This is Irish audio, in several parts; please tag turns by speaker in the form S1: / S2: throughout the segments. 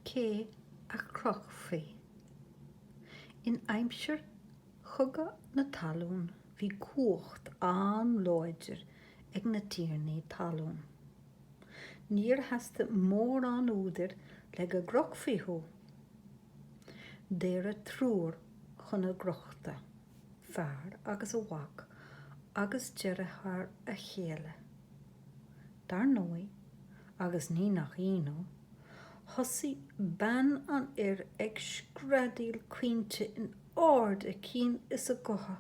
S1: Cé a chrochfaí? In aimsir Chogadh na Talún bhí cumhacht an-láidir ag na tiarnaí talún. Níor theastaigh mórán údair le go gcrochfaí thú. Daoradh triúr chun a gcrochta, fear agus a mhac agus deartháir a chéile. Dar ndóigh, agus ní nach ionadh, thosaigh bean an fhir ag screadaíl caointe in ard a cinn is a gutha.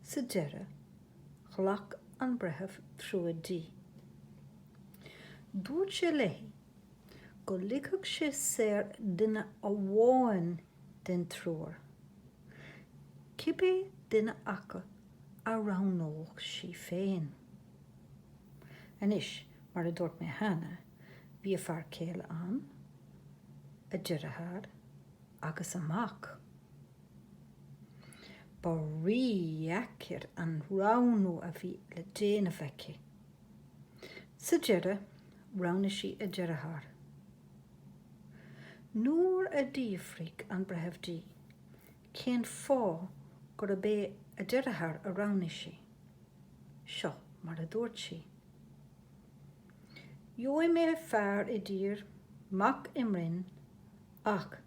S1: Sa deireadh, ghlac an Breitheamh trua di. Dúirt sé léi go ligfeadh sé saor duine amháin den triúr, cibé duine acu a roghnódh sí féin. Anois, mar a dúirt mé cheana, bhí a fear céile ann, a deartháir agus a mac. Ba rídheacair an roghnú a bhí le déanamh aici. Sa deireadh, roghnaigh sí a deartháir. Nuair a d'fhiafraigh an breitheamh di Cén fáth gurb é a deartháir a roghnaigh sí? Seo mar a dúirt sí. Gheobhaidh mé fear i dtír, mac i mbroinn, ach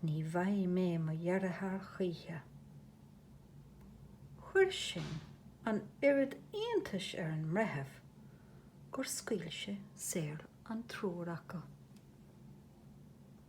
S1: ní bhfaighidh mé mo dheartháir choíche. Chuir sin an oiread iontais ar an mbreitheamh gur scaoil sé saor an triúr acu.